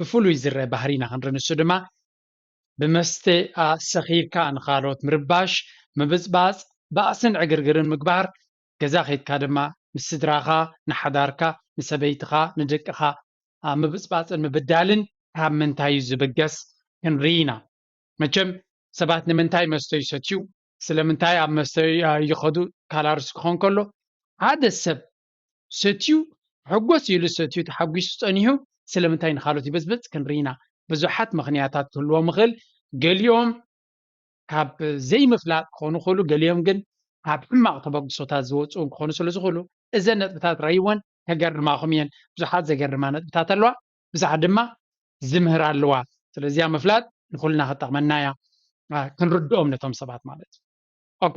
ብፍሉይ ዝረኣ ባህሪ ኢና ክንርኢ ንሱ ድማ ብመስተ ሰኺርካ ንኻልኦት ምርባሽ፣ ምብጽባጽ፣ ባእስን ዕግርግርን ምግባር፣ ገዛ ከይድካ ድማ ምስ ስድራኻ፣ ንሓዳርካ፣ ንሰበይትኻ፣ ንደቅኻ ምብጽባጽን ምብዳልን ካብ ምንታይ'ዩ ዝብገስ ክንርኢ ኢና። መቸም ሰባት ንምንታይ መስተ ይሰትዩ፣ ስለምንታይ ኣብ መስተ ይኸዱ ካላርስ ክኾን ከሎ ሓደ ሰብ ሰትዩ ሕጎስ ኢሉ ሰትዩ ተሓጒሱ ጸኒሑ ስለምንታይ ንኻልኦት ይበጽብጽ ክንርኢ ኢና። ብዙሓት ምኽንያታት ክህልዎም ይኽእል። ገሊኦም ካብ ዘይምፍላጥ ክኾኑ ይኽእሉ፣ ገሊኦም ግን ካብ ሕማቕ ተበግሶታት ዝወጽኡ እውን ክኾኑ ስለ ዝኽእሉ፣ እዘን ነጥብታት ርኣይወን ከገርማኹም እየን። ብዙሓት ዘገርማ ነጥብታት ኣለዋ፣ ብዙሓት ድማ ዝምህራ ኣለዋ። ስለዚ እዚኣ ምፍላጥ ንኹልና ክትጠቕመና እያ፣ ክንርድኦም ነቶም ሰባት ማለት እዩ። ኦኬ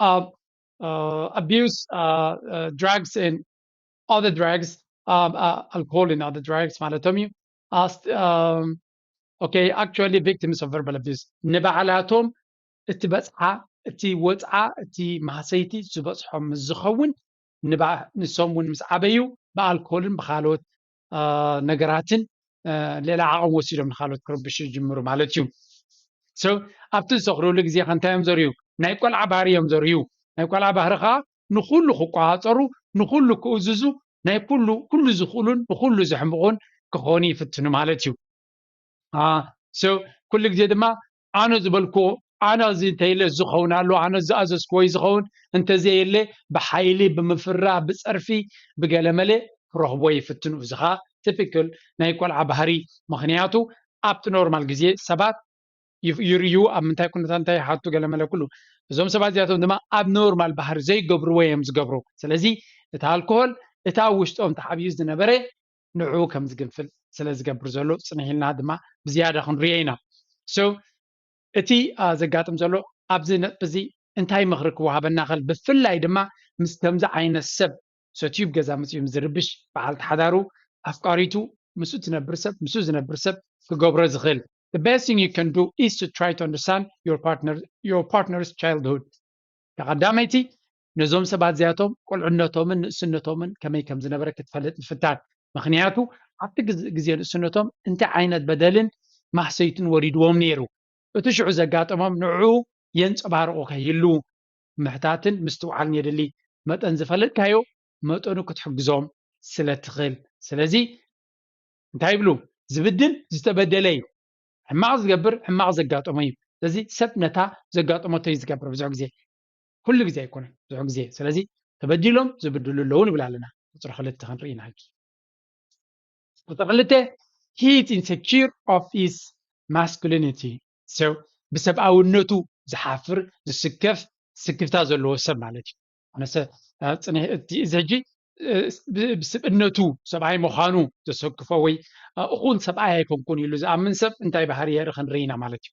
um, uh, abuse uh, uh, drugs and other drugs, um, uh, alcohol and other drugs ማለቶም እዩ ኦኬ ኣክቹዋሊ ቪክቲምስ ኦፍ ቨርባል ኣቢዩስ ንባዕላቶም እቲ በፅሓ እቲ ወፅዓ እቲ ማህሰይቲ ዝበፅሖም ምስ ዝኸውን ንሶም እውን ምስ ዓበዩ ብኣልኮልን ብካልኦት ነገራትን ሌላ ዓቕም ወሲዶም ንካልኦት ክርብሹ ይጅምሩ ማለት እዩ ሰብ ኣብቲ ዝሰክርሉ ግዜ ከ እንታይ እዮም ዘርዩ ናይ ቆልዓ ባህሪ እዮም ዘርዩ ናይ ቆልዓ ባህሪ ከዓ ንኩሉ ክቋፀሩ ንኩሉ ክእዝዙ ናይ ኩሉ ኩሉ ዝኽእሉን ንኩሉ ዘሕምቑን ክኾኑ ይፍትኑ ማለት እዩ ሰብ ኩሉ ግዜ ድማ ኣነ ዝበልክዎ ኣነ እዚ እንተይለ እዚ ክኸውን ኣለዎ፣ ኣነ ዝኣዘዝክዎ እዩ ዝኸውን፣ እንተዘየለ ብሓይሊ፣ ብምፍራ፣ ብጸርፊ፣ ብገለመለ ክረኽብዎ ይፍትኑ፣ እዚ ከኣ ቲፒክል ናይ ቆልዓ ባህሪ፣ ምኽንያቱ ኣብቲ ኖርማል ግዜ ሰባት ይርእዩ፣ ኣብ ምንታይ ኩነታት እንታይ ይሓቱ ገለመለ ኩሉ፣ እዞም ሰባት እዚኣቶም ድማ ኣብ ኖርማል ባህሪ ዘይገብርዎ እዮም ዝገብሩ፣ ስለዚ እቲ ኣልኮሆል እቲ ኣብ ውሽጦም ተሓቢኡ ዝነበረ ንዕኡ ከም ዝግንፍል ስለ ዝገብር ዘሎ ጽንሕ ኢልና ድማ ብዝያዳ ክንርእዮ ኢና። so እቲ ዘጋጥም ዘሎ ኣብዚ ነጥቢ እዚ እንታይ ምኽሪ ክወሃበና ይኽእል ብፍላይ ድማ ምስ ከምዚ ዓይነት ሰብ ሰትዩ ኣብ ገዛ መጺኡ ምስ ዝርብሽ በዓልቲ ሓዳሩ ኣፍቃሪቱ ምስኡ እትነብር ሰብ ምስኡ ዝነብር ሰብ ክገብሮ ዝኽእል the best thing you can do is to try to understand your partner your partner's childhood ተቐዳመይቲ ነዞም ሰባት እዚኣቶም ቁልዕነቶምን ንእስነቶምን ከመይ ከም ዝነበረ ክትፈልጥ ምፍታን። ምኽንያቱ ኣብቲ ግዜ ንእስነቶም እንታይ ዓይነት በደልን ማህሰይትን ወሪድዎም ነይሩ፣ እቲ ሽዑ ዘጋጠሞም ንዕኡ የንጸባርቑ ከይህልዉ ምሕታትን ምስትውዓልን የድሊ። መጠን ዝፈለጥካዮ መጠኑ ክትሕግዞም ስለ እትኽእል። ስለዚ እንታይ ይብሉ? ዝብድል ዝተበደለ እዩ። ሕማቕ ዝገብር ሕማቕ ዘጋጠሞ እዩ። ስለዚ ሰብ ነታ ዘጋጠመቶ እዩ ዝገብር ብዙሕ ግዜ። ኩሉ ግዜ ኣይኮነን ብዙሕ ግዜ ስለዚ ተበዲሎም ዝብድሉ ኣለዉ ንብል ኣለና ቁፅሪ ክልተ ክንርኢ ኢና ሕጂ ቁፅሪ ክልተ he is insecure of his masculinity so ብሰብኣውነቱ ዝሓፍር ዝስከፍ ስክፍታ ዘለዎ ሰብ ማለት እዩ ኣነሰ ፅንሕ እቲ እዚ ሕጂ ብስብእነቱ ሰብኣይ ምዃኑ ዘሰክፎ ወይ እኹን ሰብኣይ ኣይኮንኩን ኢሉ ዝኣምን ሰብ እንታይ ባህሪ የርኢ ክንርኢ ኢና ማለት እዩ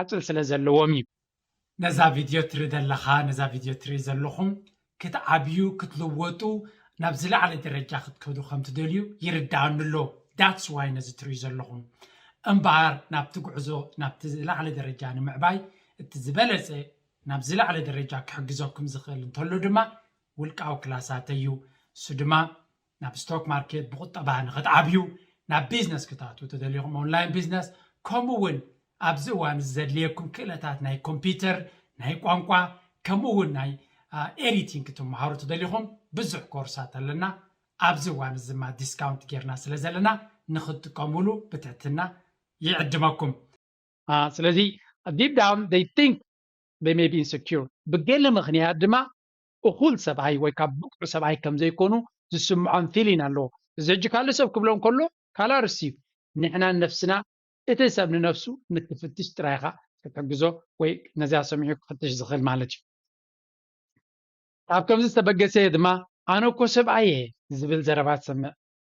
ዓጽል ስለ ዘለዎም እዩ። ነዛ ቪድዮ ትሪ ደለኻ ነዛ ቪድዮ ትሪ ዘለኹም ክትዓብዩ ክትልወጡ ናብ ዝላዓለ ደረጃ ክትከዱ ከም ትደልዩ ይርዳኣኒ ኣሎ that's why ነዚ ትሪኡ ዘለኹም እምበኣር ናብቲ ጉዕዞ ናብቲ ዝላዓለ ደረጃ ንምዕባይ እቲ ዝበለጸ ናብ ዝላዓለ ደረጃ ክሕግዘኩም ዝኽእል እንተሎ ድማ ውልቃዊ ክላሳተይ እዩ ንሱ ድማ ናብ ስቶክ ማርኬት ብቁጠባ ንክትዓብዩ ናብ ቢዝነስ ክትኣትዉ ተደሊኹም ኦንላይን ቢዝነስ ከምኡ እውን ኣብዚ እዋን እዚ ዘድልየኩም ክእለታት ናይ ኮምፒተር ናይ ቋንቋ ከምኡ እውን ናይ ኤዲቲንግ ክትመሃሩ ተደሊኹም ብዙሕ ኮርሳት ኣለና ኣብዚ እዋን እዚ ድማ ዲስካውንት ጌርና ስለ ዘለና ንክትጥቀምሉ ብትሕትና ይዕድመኩም። ስለዚ ዲፕ ዳውን ዘይ ቲንክ ዘይ መይ ቢ ኢንሰኪዩር ብገለ ምኽንያት ድማ እኹል ሰብኣይ ወይ ከኣ ብቕዑ ሰብኣይ ከም ዘይኮኑ ዝስምዖም ፊሊን ኣለዎ። እዚ ሕጂ ካልእ ሰብ ክብሎ እንከሎ ካልእ ኣርእስቲ እዩ። ንሕና ንነፍስና እቲ ሰብ ንነፍሱ ንክፍትሽ ጥራይ ኢኻ ክትሕግዞ ወይ ነዚኣ ሰሚዑ ክፍትሽ ዝኽእል ማለት እዩ። ኣብ ከምዚ ዝተበገሰ እየ ድማ ኣነ እኮ ሰብኣይ እየ ዝብል ዘረባ ትሰምዕ።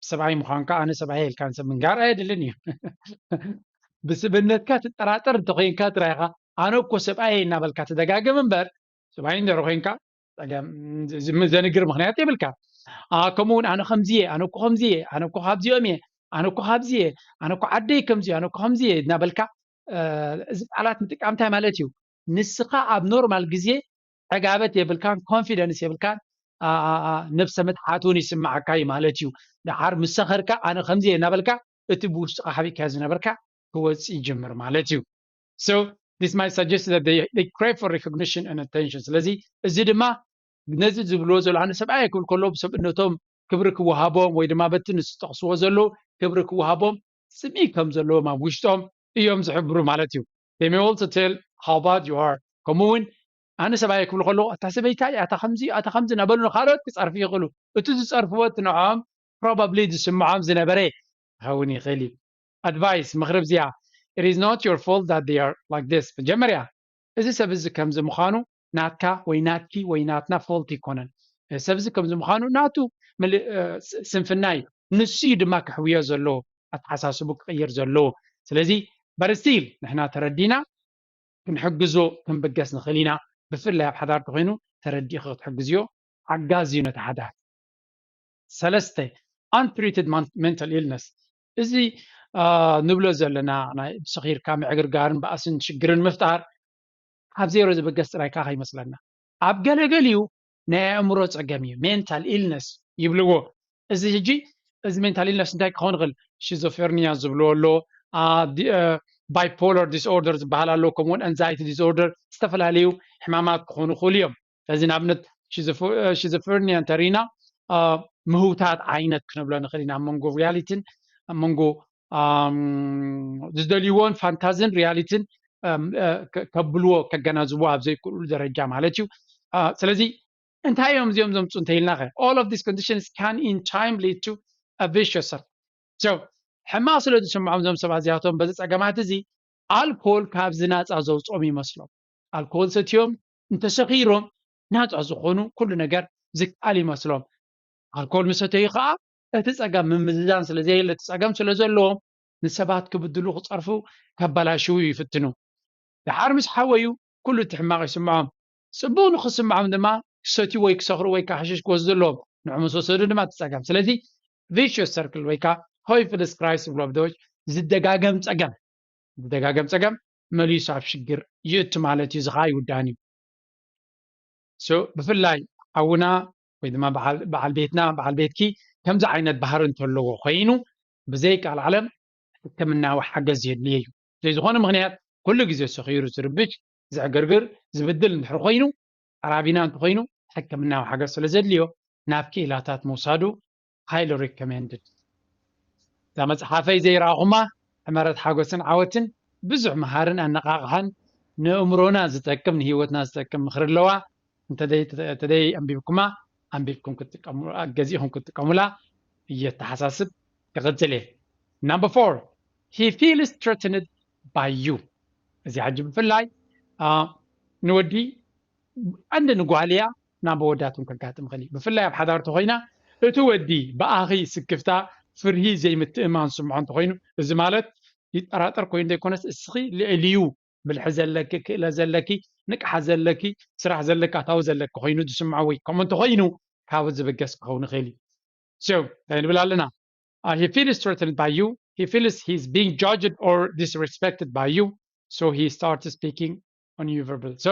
ሰብኣይ ምዃንካ ኣነ ሰብኣይ እየ ኢልካ ንሰብ ምንጋር ኣየድልን እዩ። ብስብእነትካ ትጠራጠር እንተኾይንካ ጥራይ ኢኻ ኣነ እኮ ሰብኣይ እየ እናበልካ ትደጋግም እምበር ስባይ እንጀሮ ኮንካ ጸገም ዘንግር ምክንያት የብልካ ከምኡ እውን ኣነ ከምዚ እየ ኣነ እኮ ከምዚ እየ ኣነ እኮ ካብዚኦም እየ ኣነ እኮ ካብዚ እየ ኣነ እኮ ዓደይ ከምዚ ኣነ እኮ ከምዚ እየ እናበልካ እዚ ቃላት ምጥቃም እንታይ ማለት እዩ ንስኻ ኣብ ኖርማል ግዜ ዕጋበት የብልካን ኮንፊደንስ የብልካን ነብሰ ምትሓት እውን ይስምዓካ እዩ ማለት እዩ ድሓር ምስ ሰኸርካ ኣነ ከምዚ እየ እናበልካ እቲ ብውሽጥኻ ሓቢእካ ዝነበርካ ክወፅእ ይጅምር ማለት እዩ so this might suggest that they, they crave for recognition and attention ስለዚ እዚ ድማ ነዚ ዝብልዎ ዘሎ ኣነ ሰብኣየ ክብል ከሎ ብሰብእነቶም ክብሪ ክወሃቦም ወይ ድማ በቲ ንዝጠቕስዎ ዘለዉ ክብሪ ክወሃቦም ስሚ ከም ዘለዎም ኣብ ውሽጦም እዮም ዝሕብሩ ማለት እዩ they may also tell how bad you are ከምኡ እውን ኣነ ሰብኣየ ክብሉ ከለዎ ኣታ ሰበይታ እያ ኣታ ከምዚ እዩ ኣታ ከምዚ እናበሉ ንካልኦት ክፀርፉ ይኽእሉ እቲ ዝፀርፍዎ እቲ ንዕኦም ፕሮባብሊ ዝስምዖም ዝነበረ ክኸውን ይኽእል እዩ ኣድቫይስ፣ ምኽሪ ብዚኣ፣ It is not your fault that they are like this መጀመርያ እዚ ሰብ እዚ ከምዚ ምዃኑ ናትካ ወይ ናትኪ ወይ ናትና ፎልት ኣይኮነን። እዚ ሰብ እዚ ከምዚ ምዃኑ ናቱ ስንፍና እዩ። ንሱ እዩ ድማ ከሕውዮ ዘለዎ ኣተሓሳስቡ ክቕይር ዘለዎ። ስለዚ but still ንሕና ተረዲና ክንሕግዞ ክንብገስ ንኽእል ኢና። ብፍላይ ኣብ ሓዳር ተኾይኑ ተረዲእኺ ክትሕግዝዮ ሓጋዚ እዩ ነቲ ሓዳር። ሰለስተ፣ Untreated mental illness እዚ ንብሎ ዘለና ናይ ሰኺርካ ምዕግርጋርን ባእስን ሽግርን ምፍጣር ካብ ዜሮ ዝብገስ ጥራይ ከኣ ከይመስለና ኣብ ገለገሊኡ ናይ ኣእምሮ ጸገም እዩ ሜንታል ኢልነስ ይብልዎ እዚ ሕጂ እዚ ሜንታል ኢልነስ እንታይ ክኸውን ይኽእል ሽዞፌርኒያ ዝብልዎ ኣሎ ባይፖለር ዲስኦርደር ዝበሃል ኣሎ ከምኡውን ኣንዛይቲ ዲስኦርደር ዝተፈላለዩ ሕማማት ክኾኑ ይኽእሉ እዮም ስለዚ ንኣብነት ሽዝፍርኒያ እንተሪኢና ምህውታት ዓይነት ክነብሎ ንኽእል ኢና መንጎ ሪያሊቲን መንጎ ዝደልይዎን ፋንታዝን ሪያሊቲን ከብልዎ ከገናዝብዎ ኣብ ዘይክእሉ ደረጃ ማለት እዩ ስለዚ እንታይ እዮም እዚኦም ዘምፁ እንተኢልና ኸ all of these conditions can in time lead to a vicious circle so ሕማቕ ስለ ዝስምዖም እዞም ሰባት እዚኣቶም በዚ ፀገማት እዚ ኣልኮል ካብዚ ናፃ ዘውፅኦም ይመስሎም ኣልኮል ሰትዮም እንተሰኺሮም ናጻ ዝኾኑ ኩሉ ነገር ዝከኣል ይመስሎም። ኣልኮል ምስ ሰተዩ ከኣ እቲ ጸገም ምምዝዛን ስለ ዘየለ እቲ ጸገም ስለ ዘለዎም ንሰባት ክብድሉ ክጸርፉ ከበላሽዉ ይፍትኑ። ደሓር ምስ ሓወዩ ኩሉ እቲ ሕማቕ ይስምዖም። ጽቡቕ ንኽስምዖም ድማ ክሰትዩ ወይ ክሰኽሩ ወይ ከኣ ሓሽሽ ክወስዱ ኣለዎም። ንዑ ምስ ወሰዱ ድማ እቲ ጸገም። ስለዚ ቪሽየስ ሰርክል ወይ ከኣ ቶይፍልስ ክራይስ ዝብሉ ኣብ ደዎች ዝደጋገም ጸገም ዝደጋገም ጸገም መሊሱ ኣብ ሽግር ይእቱ ማለት እዩ እዚ ከኣ ኣይውዳእን እዩ so ብፍላይ ሓውና ወይ ድማ በዓል ቤትና በዓል ቤትኪ ከምዚ ዓይነት ባህሪ እንተለዎ ኮይኑ ብዘይ ቃል ዓለም ሕክምናዊ ሓገዝ የድልየ እዩ ብዘይ ዝኾነ ምክንያት ኩሉ ግዜ ሰኺሩ ዝርብሽ ዘዕግርግር ዝብድል እንድሕር ኮይኑ ኣራቢና እንተኾይኑ ሕክምናዊ ሓገዝ ስለ ዘድልዮ ናብ ክኢላታት ምውሳዱ ሃይሊ ሪኮመንድድ። እዛ መጽሓፈይ ዘይረኣኹማ ሕመረት ሓጎስን ዓወትን ብዙሕ መሃርን ኣነቓቓሕን ንእእምሮና ዝጠቅም ንሂወትና ዝጠቅም ምኽሪ ኣለዋ እንተደይ ኣንቢብኩማ ኣንቢብኩም ክትጥቀሙ ገዚእኹም ክትጥቀሙላ እየ ኣተሓሳስብ ክቕጽል እየ ናምበር ፎር ሂ ፊልስ ትረትንድ ባይ ዩ እዚ ሕጂ ብፍላይ ንወዲ ዓንዲ ንጓል እያ ናብ ኣወዳት እውን ከጋጥም ይኽእል እዩ። ብፍላይ ኣብ ሓዳር እንተኾይና እቲ ወዲ ብኣኺ ስክፍታ፣ ፍርሂ፣ ዘይምትእምማን ዝስምዖ እንተኾይኑ፣ እዚ ማለት ይጠራጠር ኮይኑ ዘይኮነስ እስኺ ልዕሊኡ ብልሒ ዘለኪ፣ ክእለት ዘለኪ፣ ንቅሓት ዘለኪ፣ ስራሕ ዘለኪ፣ ኣታዊ ዘለኪ ኮይኑ ዝስምዖ ወይ ከምኡ እንተኾይኑ ካብኡ ዝብገስ ክኸውን ይኽእል እዩ። So እንታይ ንብል ኣለና? He feels threatened by you, he feels he is being judged or disrespected by you, so he starts speaking on you verbally. So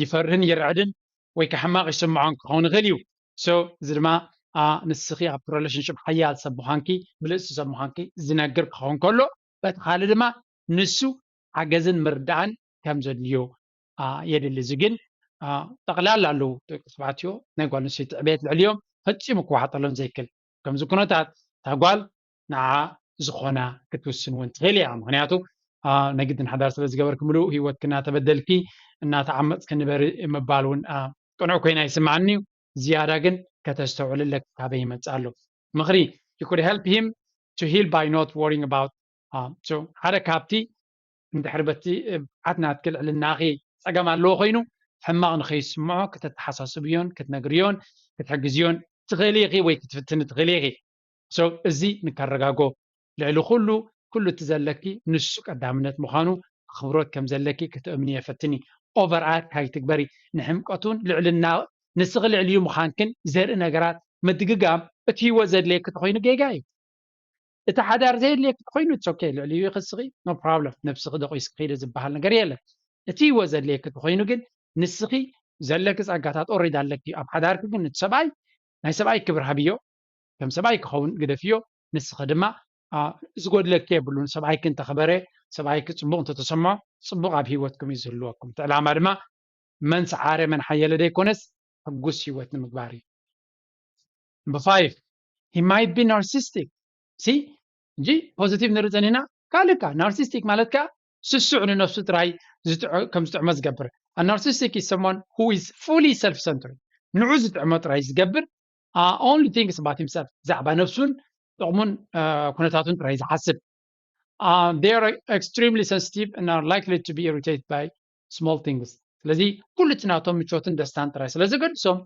ይፈርህን ይርዕድን ወይ ከኣ ሕማቅ ይስምዖን ክከውን ይክእል እዩ so እዚ ድማ a ንስኪ ኣብቲ relationship ሓያል ሰብ ምኳንኪ ብልጽቲ ሰብ ምኳንኪ ዝነግር ክከውን ከሎ በቲ ካልእ ድማ ንሱ ሓገዝን ምርዳእን ከም ዘድልዮ a የድሊ እዚ ግን a ጠቅላላ ኣለው ደቂ ተባዕትዮ ናይ ጓል ኣንስተይቲ ዕብየት ልዕሊኦም ፈጺሙ ክዋሓጠሎም ዘይክል ኣብ ከምዚ ኩነታት እታ ጓል ንዓ ዝኾና ክትውስን ውን ትኽእል እያ ምኽንያቱ ናይ ግድን ሓዳር ስለ ዝገበርኪ ምሉእ ሂወትኪ እናተበደልኪ እናተዓመጽኪ ንበሪ ምባል ውን ቅኑዕ ኮይኑ ኣይስምዓንን እዩ ዝያዳ ግን ከተስተውዕሊ ኣለኪ ካበይ ይመጽእ ኣሎ ምኽሪ you could help him to heal by not worrying about so ሓደ ካብቲ እንድሕር በቲ ብዓት ናትኪ ልዕልናኺ ጸገም ኣለዎ ኮይኑ ሕማቕ ንኸይስምዖ ክተተሓሳስብዮን ክትነግርዮን ክትሕግዝዮን ትኽእሊ ኢኺ ወይ ክትፍትኒ ትኽእሊ ኢኺ so እዚ ንከረጋጎ ልዕሊ ኩሉ ኩሉ እቲ ዘለኪ ንሱ ቀዳምነት ምዃኑ ኣኽብሮት ከም ዘለኪ ክተእምንዮ ፈትኒ over act ኣይትግበሪ ንሕምቀቱን ልዕልና ንስኺ ልዕሊኡ ምዃንክን ዘርኢ ነገራት ምድግጋም እቲ ሂወት ዘድልየኪ ተኾይኑ ጌጋ እዩ እቲ ሓዳር ዘየድልየኪ ተኾይኑ it's ok ልዕሊኡ ኢኺ እስኺ no problem ነብስኺ ደቂስኪ ኺዲ ዝበሃል ነገር የለን እቲ ሂወት ዘድልየኪ ተኾይኑ ግን ንስኺ ዘለኪ ጸጋታት ኦሬዲ ኣለኪ ኣብ ሓዳርኪ ግን እቲ ሰብኣይ ናይ ሰብኣይ ክብሪ ሃብዮ ከም ሰብኣይ ክኸውን ግደፍዮ ንስኺ ድማ ዝጎድለኪ የብሉን ሰብኣይኪ እንተኽበረ ሰብኣይኪ ጽቡቕ እንተተሰምዖ ጽቡቕ ኣብ ሂወትኩም እዩ ዝህልወኩም እቲ ዕላማ ድማ መን ሰዓረ መን ሓየለ ዘይኮነስ ሕጉስ ሂወት ንምግባር እዩ Number five, he might be narcissistic. ሲ እንጂ ፖዚቲቭ ንርኢ ዘኒና ካልእ ከ ናርሲስቲክ ማለት ከ ስሱዕ ንነፍሱ ጥራይ ከም ዝጥዕሞ ዝገብር ናርሲስቲክ ኢዝ ሰሞን ሁ ኢዝ ፉሊ ሰልፍ ሰንትሪ ንዑ ዝጥዕሞ ጥራይ ዝገብር ኦንሊ ቲንግስ ኣባት ሂምሰልፍ ብዛዕባ ነብሱን ጥቕሙን ኩነታቱን ጥራይ ዝሓስብ ዜይ ኣር ኤክስትሪምሊ ሰንስቲቭ እና ላይክሊ ቱ ቢ ኢሪቴትድ ባይ ስሞል ቲንግስ ስለዚ ኩሉ እቲ ናቶም ምቾትን ደስታን ጥራይ ስለ ዘገድሶም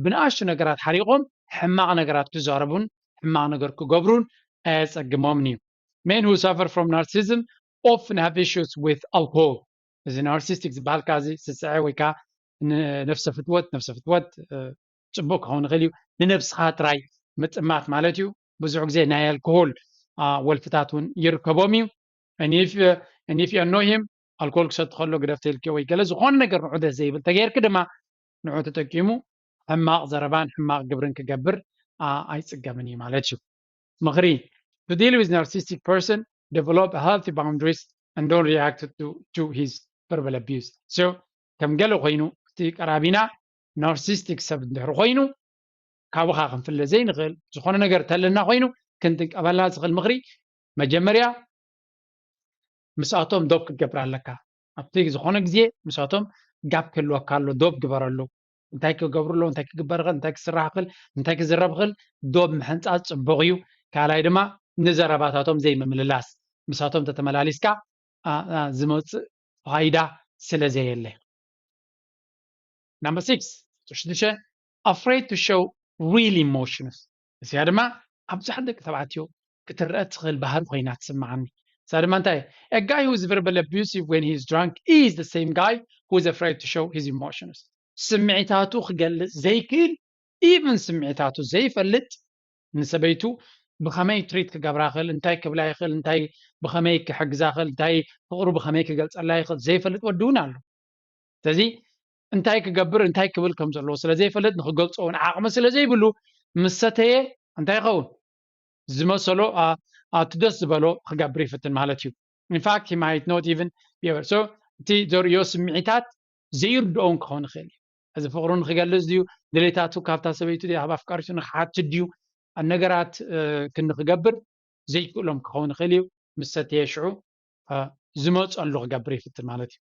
ብንኣሽቱ ነገራት ሓሪቖም ሕማቕ ነገራት ክዛረቡን ሕማቕ ነገር ክገብሩን ኣየጸግሞምን እዩ ሜን ሁ ሳፈር ፍሮም ናርሲዝም ኦፍን ሃቭ ኢሹስ ዊዝ ኣልኮል እዚ ናርሲስቲክ ዝበሃልካ እዚ ስስዐ ወይ ከዓ ነፍሰ ፍትወት ነፍሰ ፍትወት ጽቡቅ ክኸውን ይኽእል እዩ ንነብስኻ ትራይ ምጥማት ማለት እዩ ብዙሕ ግዜ ናይ ኣልኮሆል ወልፍታት ውን ይርከቦም እዩ and if you know him ኣልኮል ክሰቲ ከሎ ግደፍ ተልኪ ወይ ገለ ዝኾነ ነገር ንዑ ደስ ዘይብል ተገይርኪ ድማ ንዑ ተጠቂሙ ሕማቕ ዘረባን ሕማቕ ግብርን ክገብር ኣይጽገምን እዩ ማለት እዩ ምኽሪ to deal with narcissistic person develop healthy boundaries and don't react to, to his verbal abuse so ከም ገለ ኮይኑ እቲ ቀራቢና ናርሲስቲክ ሰብ እንድሕር ኮይኑ ካብኻ ክንፍለ ዘይንኽእል ዝኾነ ነገር ተለና ኮይኑ ክንጥቀበላ ዝኽእል ምኽሪ መጀመርያ ምስኣቶም ዶብ ክትገብር ኣለካ ኣብቲ ዝኾነ ግዜ ምስኣቶም ጋብ ክህልወካ ኣሎ ዶብ ግበረሉ እንታይ ክገብሩ ኣለዎ እንታይ ክግበር ይኽእል እንታይ ክስራሕ ይኽእል እንታይ ክዝረብ ይኽእል ዶብ ምሕንፃፅ ፅቡቕ እዩ ካልኣይ ድማ ንዘረባታቶም ዘይምምልላስ ምሳቶም ተተመላሊስካ ዝመፅእ ፋይዳ ስለ ዘየለ ናምበር ሲክስ ሕቶ ሽዱሽተ ኣፍሬድ ቱ ሸው ሪል ኢሞሽንስ እዚኣ ድማ ኣብ ብዙሓት ደቂ ተባዕትዮ ክትረኣ እትኽእል ባህሪ ኮይና ትስምዓኒ እዛ ድማ እንታይ እያ a guy who is verbally abusive when he is drunk is the same guy who is afraid to show his emotions ስምዒታቱ ክገልጽ ዘይክእል ኢቭን ስምዒታቱ ዘይፈልጥ ንሰበይቱ ብኸመይ ትሪት ክገብራ ይኽእል እንታይ ክብላ ይኽእል እንታይ ብኸመይ ክሕግዛ ይኽእል እንታይ ፍቕሩ ብኸመይ ክገልጸላ ይኽእል ዘይፈልጥ ወዲ እውን ኣሎ ስለዚ እንታይ ክገብር እንታይ ክብል ከም ዘለዎ ስለ ዘይፈልጥ ንክገልፆ እውን ዓቕሚ ስለ ዘይብሉ ምስ ሰተየ እንታይ ይኸውን ዝመሰሎ ኣብቲ ደስ ዝበሎ ክገብር ይፍትን ማለት እዩ ኢንፋክት ሂ ማይት ኖት ኢቨን ቢበር ሶ እቲ ዘርእዮ ስምዒታት ዘይርድኦ እውን ክኸውን ይኽእል እዩ እዚ ፍቕሩ ንክገልፅ ድዩ ድሌታቱ ካብታ ሰበይቱ ኣብ ኣፍቃሪቱ ንክሓት ድዩ ነገራት ክንክገብር ዘይክእሎም ክኸውን ይኽእል እዩ ምስ ሰተየ ሽዑ ዝመፀሉ ክገብር ይፍትን ማለት እዩ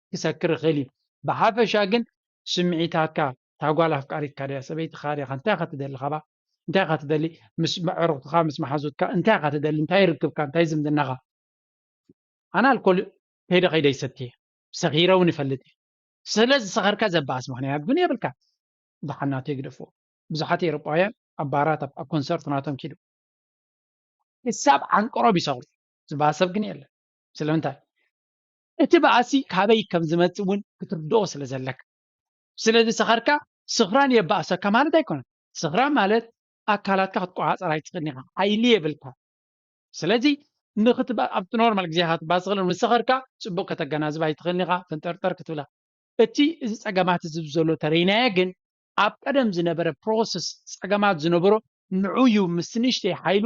ክሰክር ይኽእል እዩ ብሓፈሻ ግን ስምዒታትካ እታ ጓል ኣፍቃሪትካ ድያ ሰበይትኻ ድያ እንታይ ኢኻ ትደሊ ካባኣ እንታይ ኢኻ ትደሊ ምስ ኣዕሩኽትኻ ምስ መሓዙትካ እንታይ ኢኻ ትደሊ እንታይ ርክብካ እንታይ ዝምድናኻ ኣነ ኣልኮል ከይደ ከይደ ይሰቲ እየ ሰኺረ እውን ይፈልጥ እየ ስለ ዝሰኸርካ ዘበኣስ ምክንያት ግን የብልካ ብሓናቶ ይግደፍዎ ብዙሓት ኤሮጳውያን ኣብ ባራት ኣብ ኮንሰርት ናቶም ኪዱ ክሳብ ዓንቅሮብ ይሰኽሩ ዝበሃል ሰብ ግን የለን ስለምንታይ እቲ ባእሲ ካበይ ከም ዝመጽእ እውን ክትርድኦ ስለ ዘለካ። ስለዚ ሰኸርካ ስኽራን የባእሰካ ማለት ኣይኮነን። ስኽራን ማለት ኣካላትካ ክትቆጻጸር ኣይትኽእልን ኢኻ፣ ሓይሊ የብልካን። ስለዚ ንኽት ኣብቲ ኖርማል ግዜኻ ክትባስኽልን ምስ ሰኸርካ ጽቡቕ ከተገናዝብ ኣይትኽእልን ኢኻ፣ ፈንጠርጠር ክትብል ኢኻ። እቲ እዚ ጸገማት እዚ ብዘሎ ተረይናዮ ግን ኣብ ቀደም ዝነበረ ፕሮሰስ ጸገማት ዝነበሮ ንዑ እዩ ምስ ንእሽተይ ሓይሉ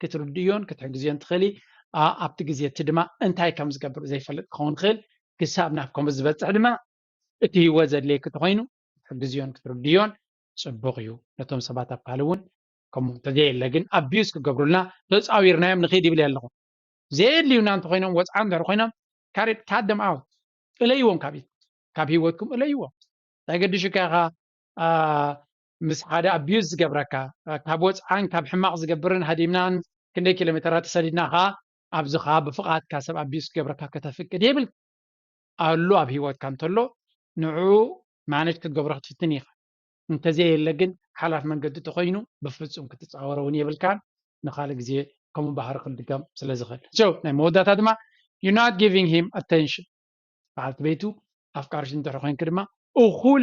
ክትርድእዮን ክትሕግዝዮን ትኽእሊ ኣብቲ ግዜ እቲ ድማ እንታይ ከም ዝገብር ዘይፈልጥ ክኸውን ይኽእል ክሳብ ናብ ከምኡ ዝበጽሕ ድማ እቲ ህይወት ዘድልየኪ ተኾይኑ ክትሕግዝዮን ክትርድእዮን ጽቡቕ እዩ ነቶም ሰባት ኣብ ካልእ እውን ከምኡ እንተዘየለ ግን ኣቢዩዝ ክገብሩልና ተጻዊርናዮም ንኺድ ይብል ኣለኹ ዘየድልዩና እንተኾይኖም ወጽዓ እንድሕር ኮይኖም ካሬድ ካደም ኣውት እለይዎም ካብ ካብ ህይወትኩም እለይዎም እንታይ ገድሽካ ኢኻ ምስ ሓደ ኣቢዩዝ ዝገብረካ፣ ካብ ወጽዓን ካብ ሕማቕ ዝገብርን ሃዲምናን ክንደይ ኪሎሜተራት ተሰዲድና ከኣ ኣብዚ ከኣ ብፍቓድካ ሰብ ኣቢዩዝ ክገብረካ ከተፍቅድ የብልካን። ኣሉ ኣብ ሂወትካ እንተሎ ንዕኡ ማነጅ ክትገብሮ ክትፍትን ኢኻ። እንተዘየለ ግን ሓላፍ መንገዲ ተኾይኑ ብፍጹም ክትጻወሮ ውን የብልካን ንኻልእ ግዜ ከምኡ ባህሪ ክድገም ስለ ዝኽእል። So ናይ መወዳእታ ድማ You're not giving him attention በዓልቲ ቤቱ ኣፍቃሪቱ እንድሕር ኮይንኪ ድማ እኹል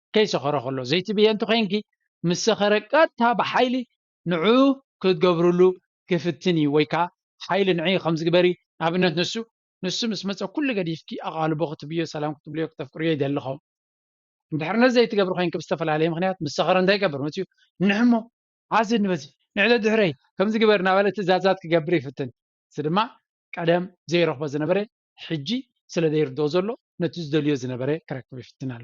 ከይሰኸሮ ከሎ ዘይትብህየ እንተኾይንኪ ምስ ሰኸረ ቀጥታ ብሓይሊ ንዑ ክትገብርሉ ክፍትን እዩ ወይ ከዓ ሓይሊ ንዕይ ከምዚ ግበሪ ንኣብነት ንሱ ንሱ ምስ መፀ ኩሉ ገዲፍኪ ኣቓልቦ ክትብዮ ሰላም ክትብልዮ ክተፍቅርዮ ይደሊ ኸም እንድሕር ነዚ ዘይትገብሪ ኮይንኪ ብዝተፈላለየ ምክንያት ምስ ሰኸረ እንታይ ይገብር መፅኡ ንሕሞ ዓዚ ንበዚ ንዕደ ድሕረይ ከምዚ ግበር እናበለ ትእዛዛት ክገብር ይፍትን እዚ ድማ ቀደም ዘይረኽቦ ዝነበረ ሕጂ ስለ ዘይርድኦ ዘሎ ነቲ ዝደልዮ ዝነበረ ክረክብ ይፍትን ኣሎ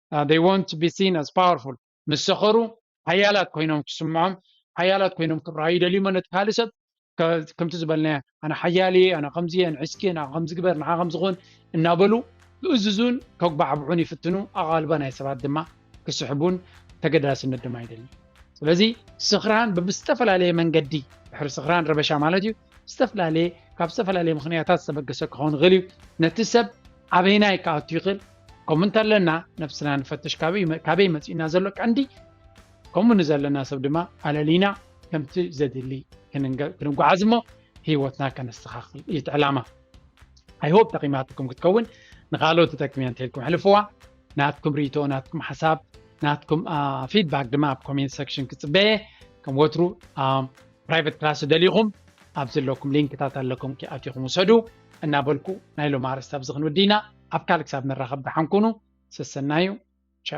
they want to be seen as powerful ምስ ሰኸሩ ሓያላት ኮይኖም ክስምዖም ሓያላት ኮይኖም ክርኣዩ ይደልዩሞ ነቲ ካልእ ሰብ ከምቲ ዝበልናዮ ኣነ ሓያል እየ ኣነ ከምዚ እየ ንዒስኪ ንዓ ከምዚ ግበር ንዓ ከምዚ ኹን እናበሉ ክእዝዙን ከጉባዕብዑን ይፍትኑ ኣቓልቦ ናይ ሰባት ድማ ክስሕቡን ተገዳስነት ድማ ይደሊ ስለዚ ስኽራን ብብዝተፈላለየ መንገዲ ድሕሪ ስኽራን ረበሻ ማለት እዩ ዝተፈላለየ ካብ ዝተፈላለየ ምክንያታት ዝተበገሰ ክኸውን ይኽእል እዩ ነቲ ሰብ ኣበይናይ ክኣቱ ይኽእል ከምኡ እንተለና ነብስና ንፈትሽ ካበይ መፂእና ዘሎ ቀንዲ ከምኡ ንዘለና ሰብ ድማ ኣለሊና ከምቲ ዘድሊ ክንጓዓዝ እሞ ሂወትና ከነስተኻኽል እዩ እቲ ዕላማ ኣይሆብ ጠቂማትኩም ክትከውን ንካልኦት ትጠቅም እያ እንተልኩም ሕልፍዋ ናትኩም ርኢቶ ናትኩም ሓሳብ ናትኩም ፊድባክ ድማ ኣብ ኮሜንት ሰክሽን ክፅበየ ከም ወትሩ ፕራይቨት ክላስ ዝደሊኹም ኣብ ዘለኩም ሊንክታት ኣለኩም ኪ ኣቲኹም ውሰዱ እናበልኩ ናይ ሎም ኣርእስቲ ኣብዚ ክንውድይና ኣብ ካልእ ክሳብ ንራኸብ ደሓን ኩኑ ሰሰናዩ